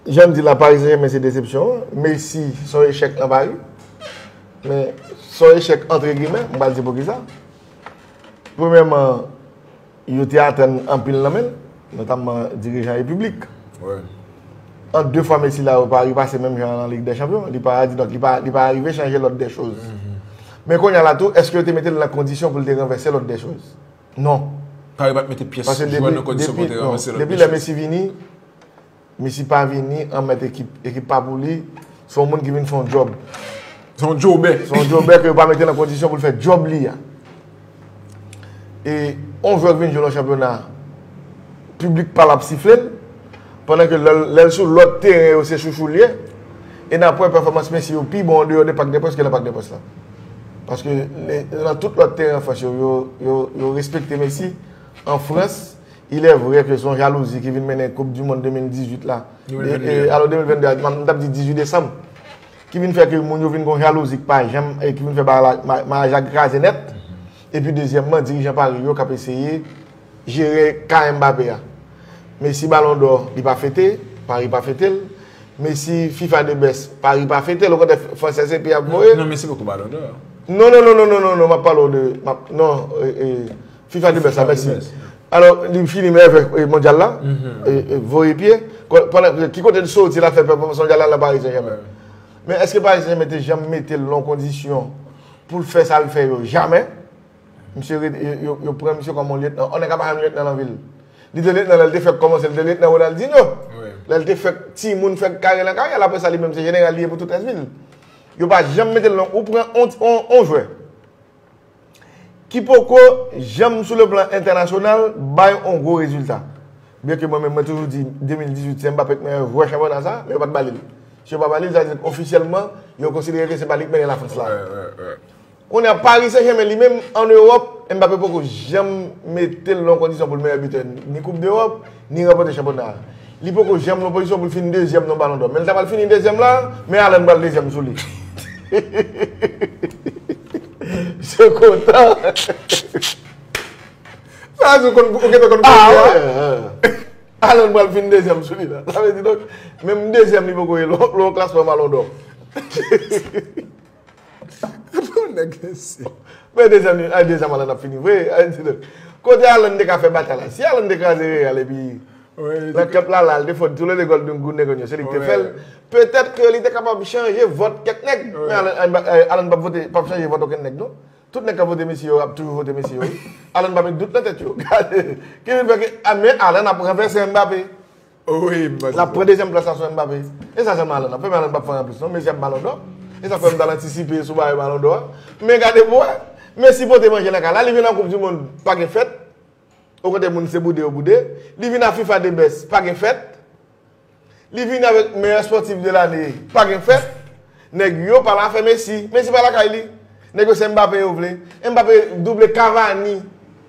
Janm di la Paris Saint-Germain se desepsyon an, Messi son echèk nan Paris, men son echèk antre gimè, m pral di poukisa. Premyèman, yo te atann anpil nan men l, notamman dirijan e piblik. An 2 fwa Messi la yo pa repase menm jan nan Lig dè Chanpyon, li pa di donk li pa li pa arive chanje lòd dè choz. Men konnya la tou, èske yo te mete l nan kondisyon pou l te ranvèse lòd dè choz? Non. Paris pat mete pyès jwè nan kondisyon pou te ranplase lòt. Depi lè Messi vini, Messi pa vini an mèt ekip. Ekip pa pou li. Se yon moun ki vin fè yon djòb. Se yon djobè. Se yon djobè ke yo pa mete nan kondisyon pou l fè djòb li a. E yon jwè ki vin jwe nan chanpyona, piblik pa l ap sifle l. pandan ke lè l sou lòt teren yo se chouchou l ye, e n ap wè pèfòmans Messi yo pi bon an deyò de Parc des Princes ke nan Parc des Princes la. Paske nan tout lòt teren an Frans yo, yo respekte Messi, an Frans, ilè vrè ke se yon jalouzi ki vin mennen koup di mond 2018 la, alo 2022 a, m ta p di 18 desanm, ki vin fè ke moun yo vin gen yon jalouzi ki pa janm, e ki vin fè maraj la kraze nèt, epi dezyèmman dirijan Paris yo k ap eseye. jere ka Mbappé a. Messi balon dò li pa fete, Paris pa fete l. Messi fifa de best, Paris pa fete l. Okontrè fransè se pi ap voye. Non Messi poko balon dò. Non non non non non map pale w de non fifa de best la Messi. Alò li fini meyè vè mondyal la, voye pye. Ki kote l soti la fè pèfòmans mondyal la nan Paris Saint Germain. Men eske Paris Saint Germain te janm mete l nan kondisyon pou l fè sa l fè yo? Jamè. Misye ret yo pran misye kòm yon lyetnan. Yon nèg ka pa janm lyetnan nan vi l. Li te lyetnan lè l te fèk kòmanse. Li te lyetnan Ronaldinho. Lè l te fèk timoun fèk kare nan karyè l. Apre sa li menm se jeneral li ye pou tout rès vi l. Yo pa janm mete l nan. Ou pran yon jwè ki poko janm sou le plan entènasyonal bay yon gwo rezilta. Byen ke mwen menm mwen toujou di 2018 se Mbappé ki meyè jwè chanpyona sa. Men yo pa t ba li l. Si yo pa ba li l sa vle di ofisyèlman yo konsidere ke se pa li ki mennen Lafrans la. Kounye a Paris Saint Germain li menm an Ewòp, Mbappé poko janm mete l nan yon kondisyon pou l meyè bitè ni koup dEròp, ni ranpòte chanpyona a. Li poko janm nan yon pozisyon pou l fini dezyèm nan balon dò. Men l ta pral fini dezyèm la, men Haaland pral dezyèm sou li. Misye kontan. Sa vle di ou konn ou gentan konn kounye a, Haaland pral fini dezyèm sou li la. Sa vle di donk menm dezyèm li poko ye nan yon klasman balon dò. Bon nèg mesye. Men mezanmi a dezam Alan ap fini vre a di nou kote Alan te ka fè batay la si Alan te kraze real epi nan kep la la li te fò tou le 2 gòl nou gou nèg an yo se li ki te fèl petèt ke li te kapab chanje vòt kèk nèg men Alan pap vote pap chanje vòt okenn nèg non tout nèg kap vote mesye yo ap toujou vote mesye yo Alan pa met dout nan tèt yo gade ki vin fè ke men Alan ap ranvèse Mbappé. Lap pran dezyèm plas la sou Mbappé. E sa sèlman Haaland ap fè, men Haaland pap fè anyen anplis non. Messi ap Ballon d'Or. E sa fè m ta al antisipe sou bagay Ballon d'Or a. Men gade pou wè. Messi pote manje nan kay la. Li vin nan koup di mond pa gen fèt. Okontrè moun se boude yo boude. Li vin nan fifa de best pa gen fèt. Li vin avèk meyè spòtif de lane pa gen fèt. Nèg yo pa la fè Messi. Messi pa lakay li. Nèg yo se Mbappé yo vle. Mbappé double Cavani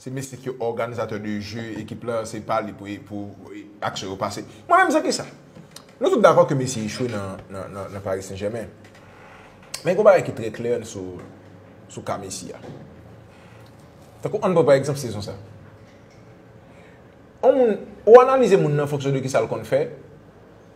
Se mesye ki òganizatè de je ekip la se pa li pou aksyon yo pase. Mwen menm se kisa? Nou tout dakò ke Messi echwe nan Paris Saint Germain. Men gon bagay ki trè klè sou ka Messi a. Tankou ann pran pa egzanp sezon sa. Ou analize moun nan an fonksyon de kisa l konn fè.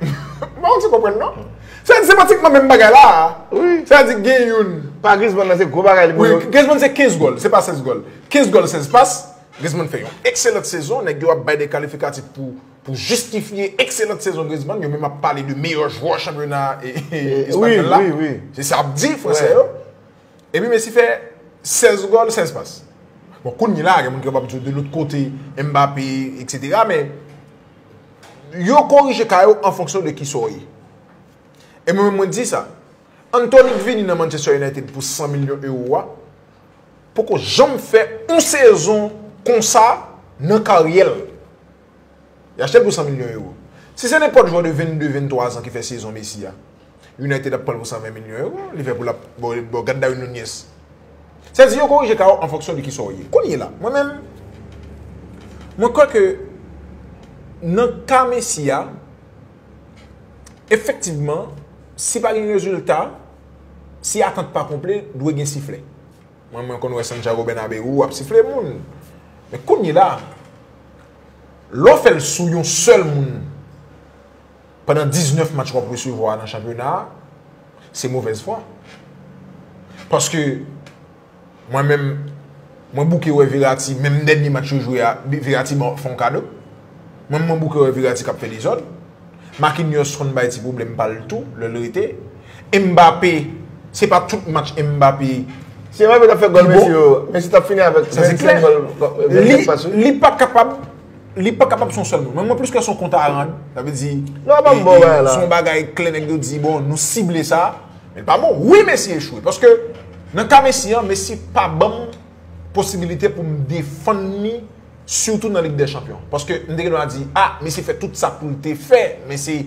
Mwen pa ti konprann non. Sa se pratikman menm bagay la. Sa di gen yon. Pa Griezmann nan se gwo bagay li. Wi, Griezmann se 15 gòl, se pa 16 gòl. 15 gòl, 16 pas. Griezmann fè yon ekselant sezon. Nèg yo ap bay de kalifikatif pou jistifye ekselant sezon Griezmann. Yo menm ap pale de meyò jwè chanpyona espanyòl la. Se sa ap di fransè yo. Epi Messi fè 16 gòl, 16 pas. Bon, kounye la, gen moun ki kapab di w de lòt kote, Mbappé, eksetera, men, yo korije ka yo an fonksyon de ki sa w ye. E mwen menm mwen di sa, Antony k vini nan Manchester United pou 100 milyon ewo a, poko janm fè yon sezon konsa nan karyè l. Yo achte l pou 100 milyon ewo. Si se nenpòt jwè de 22, 23 zan ki fè sezon Messi a, United ap pran l pou 120 milyon ewo, Liverpool ap bon gad Darwin Nunez. Sa di yo korije ka w an fonksyon de kisa w ye. Kounyela, mwen menm, mwen kwè ke nan ka Messi a, efektivman, si pa gen rezilta, si atant pa konple, dwe gen siflè. Mwen mwen konn wè Santiago Bernabeu ap sifle moun men kounyela lè w fè l sou yon sèl moun pandan 19 match wap resevwa nan chanpyona a se movèz fwa paske mwen menm mwen bouke wè Verratti menm dènye match yo jwe a Verratti fè yon kado. Mwen mwen bouke wè Verratti k ap fè dezòd. Marquinhos konn bay ti pwoblèm pa l tou lè l rete. Mbappé, se pa tout match Mbappé. Si Mbappé t ap fè gòl Messi yo, Messi t ap fini avèk 25 gòl, 25 pas wi. Li pa kapab, li pa kapab se yon sèl moun. Mwen mwen plis kwè se yon kont a rand. Sa vle di, se yon bagay klè nèg yo di bon nou sible sa. Men l pa bon. Wi Messi echwe paske nan ka Messi an, Messi pa ban m posibilite pou m defann li. Sitou nan lig dè chanpyon. Paske m te gen dwa di, a, Messi fè tout sa pou l te fè, men se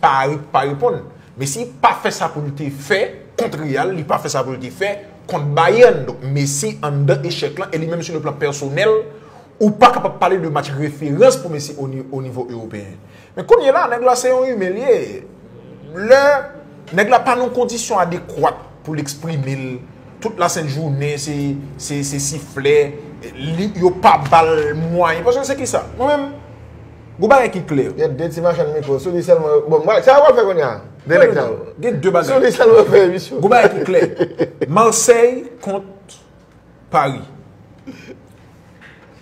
Paris ki pa reponn. Messi pa fè sa pou l te fè kont Real, li pa fè sa pou l te fè kont Bayern. Donk Messi anndan echèk lan, e li menm sou le plan pèsonèl, ou pa kapab pale de match referans pou Messi o nivo ewopeyen. Men kounye la nèg la se yon imen li ye. Lè nèg la pa nan yon kondisyon adekwat pou l eksprime l, tout la sent jounen se siflè, yo pa ba l mwayen. Paske se ki sa? Mwen menm, gon bagay ki klè. Gen de ti machann mikwo, sou li sèlman yo, bon, sa yo pral fè kounye a? De nèg sa yo. Gen de bagay. Sou li sèlman yo fè emisyon. Gon bagay ki klè. Marseille kont. Paris.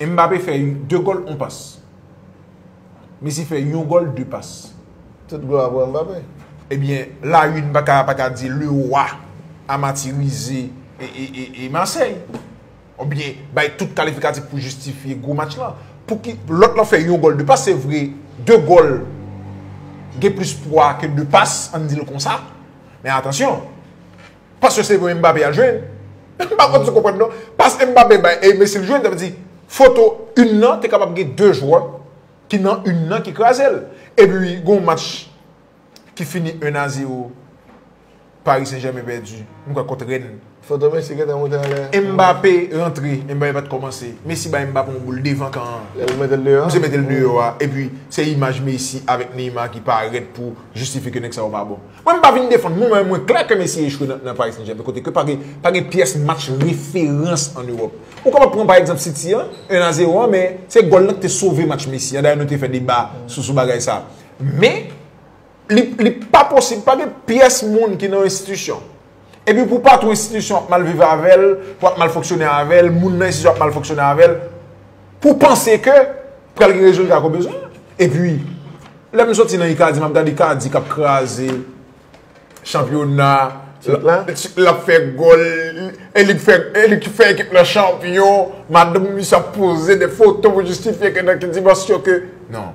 Mbappé fè 2 gòl 1 pas. Messi fè yon gòl 2 pas. Tout glwa pou Mbappé. Ebyen la une paka paka di le roi a matirize e Marseille. Ou byen bay tout kalifikatif pou jistifye gwo match lan. Pouki lòt lan fè yon gòl 2 pas se vre 2 gòl gen plis pwa ke 2 pas an n di l konsa men atansyon. Paske se vre Mbappe al jwe. M pa kwè se konprann non. Pas Mbappe bay e Messi l jwe, sa vle di foto yn nan te kapab gen 2 jwè ki nan yn nan ki kraze l. Epi gon match ki fini 1 a 0 Paris Saint Germain pèdi, m kwè kont Rennes. Foto Messi gentan moute anlè. Mbappe rantre, Mbappe pat kòmanse. Messi bay Mbappe yon boul devan kan an. Lè pou mete l deyò an. Misye mete l deyò a. Epi se imaj Messi avèk Neymar ki parèt pou jistifye ke nèg sa yo pa bon. Mwen m pa vin defann moun men mwen klè ke Messi echwe nan Paris Saint-Germain kote ke pa gen pyès match referans an Europe. Ou kapab pran pa egzanp City an, 1 a 0 an men se gòl lan ki te sove match Messi an. Dayè nou te fè deba sou bagay sa. Men li pa posib pa gen pyès moun ki nan yon enstitisyon. Epi pou patwon enstitisyon ap mal viv avè l, pou ap mal fonksyone avè l, moun nan enstitisyon ap mal fonksyone avè l, pou panse ke pral gen rezilta ke w bezwen an. Epi, lè m soti nan Ikadi, m ap gade Ikadi k ap kraze chanpyona, l ap fè gòl, e li k fè ekip lan chanpyon, madanm misye ap poze de foto pou jistifye ke nan ki dimansyon ke, non.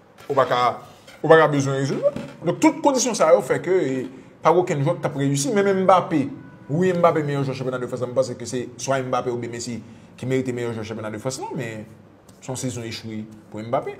Ou pa ka ou pa ka bezwen rezoud yo. Donk tout kondisyon sa yo fè ke pa gen okenn jwè ki t ap reyisi. Menm Mbappé, wi Mbappé meyè jwè chanpyona de Frans la. M panse ke se swa Mbappé oubyen Messi ki merite meyè jwè chanpyona de Frans la. Men, se yon sezon echwe pou Mbappé.